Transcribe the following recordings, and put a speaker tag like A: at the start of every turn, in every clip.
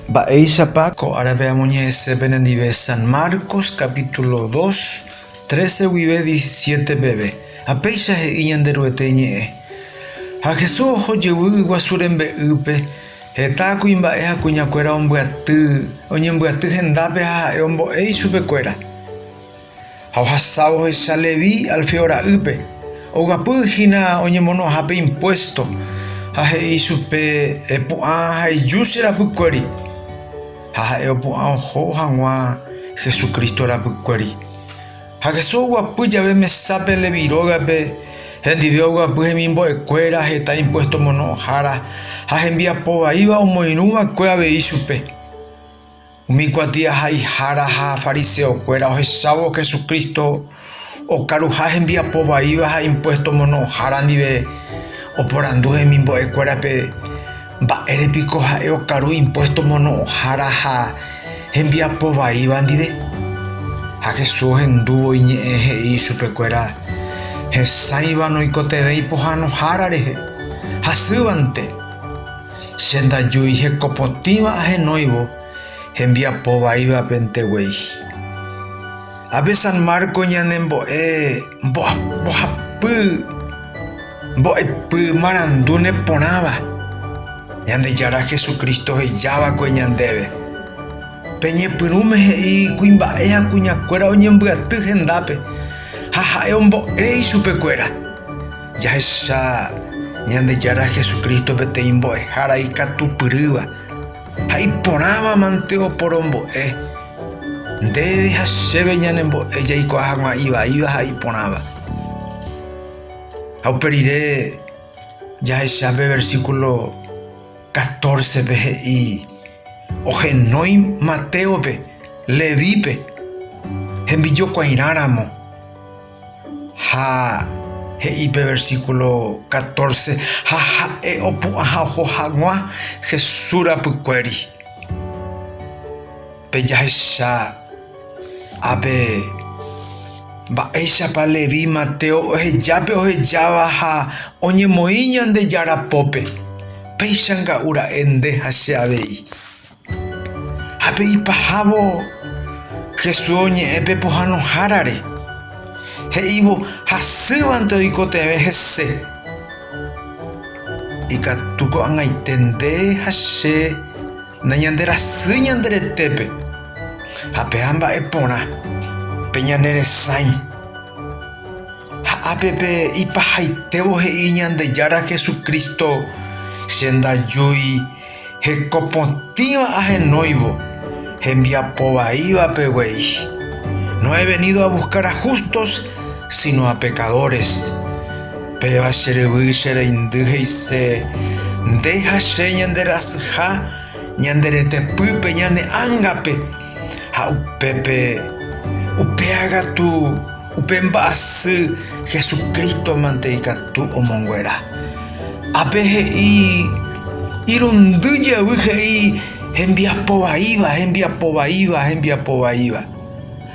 A: Mba'éichapa? Ko árape amoñe'ẽse penendive San Marcos capítulo dos, trece guive diecisiete peve. Ha péicha he'i Ñanderuete ñe'ẽ. Ha Jesús oho jevy yguasu rembe'ýpe, heta kuimba'e ha kuñakuéra ombyaty, oñembyaty hendápe ha ha'e ombo'e ichupekuéra. Ha ohasávo ohecha Leví Alfeo ra'ýpe, oguapy hína oñemono'ãhápe impuésto, ha he'i ichupe, Epu'ã ha eju che rapykuéri. Ha ha'e opu'ã oho hag̃ua Hesu Crísto rapykuéri. Ha Hesu oguapy jave mesápe Leví rógape, hendive oguapy hemimbo'ekuéra, heta impuésto omono'õhára ha hembiapo vaíva omoirũ va'ekue avei chupe. Umi kuatiahaihára ha fariseokuéra ohechávo Jesucristo okaruha hembiapo vaíva ha impuesto omono'õhára ndive, oporandu hemimbo'ekuérape, Mba'ére piko ha'e okaru impuesto omono'õhára ha hembiapo vaíva ndive? Ha Jesús ohendúvo iñe'ẽ he'i ichupekuéra, Hesãiva noikotevẽi pohãnohára rehe, hasývante. Che ndajui hekopotĩva ahenóivo hembiapo vaívape nteguei. Ápe San Marco ñane mbo'e mbohapy mbo'epy marandúne porãva, Ñandejára Jesucristo hejáva'ekue ñandéve, Peñepyrũme he'i kuimba'e ha kuñakuéra oñembyaty hendápe, ha ha'e ombo'e ichupekuéra. Jahecha Ñandejára Jesucristo peteĩ mbo'ehára ikatupyrýva ha iporãva mante oporombo'e. Ndéve ha chéve ñanembo'e jaikuaa hag̃ua ivaíva ha iporãva. Ha upe rire jahecha pe versículo 14-pe he'i ohenói Matéope, Levípe, hembijokuairã ramo. Ha he'i pe versíkulo katórse, Ha ha'e opu'ã ha oho hag̃ua Jesús rapykuéri. Pe jahecha ápe, mba'éichapa Leví Mateo ohejápe ohejáva ha oñemoĩ Ñandejára pópe, péicha nga'u ra'e nde ha che avei. Ha pe ipahávo Jesús oñe'ẽ pe pohãnohárare, he'ívo, Hasývante oikotevẽ hese. Ikatu ko'ag̃aite nde ha che nañanderasy ñande retépe, ha pe'a mba'e porã, peñaneresãi. Ha ápe pe ipahaitévo he'i Ñandejára Jesucristo, Che ndajúi. Hekopotĩva ahenóivo hembiapo vaívape guei. No he venido a buscar a justos, sino a pecadores. Péva che ryvy che reindy he'ise, Nde ha che ñande rasyha ñande retepýpe ñane ángape, ha upépe upéva katu. Upe mba'asy Jesucristo-mante ikatu omonguera. Ápe he'i, irundy jevy he'i hembiapo vaíva, hembiapo vaíva, hembiapo vaíva.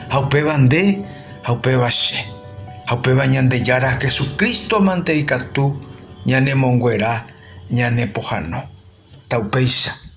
A: Ha upéva nde, ha upéva che, ha upéva Ñandejára Jesucristo-mante ikatu ñanemonguera ñane pohano. Ta upéicha.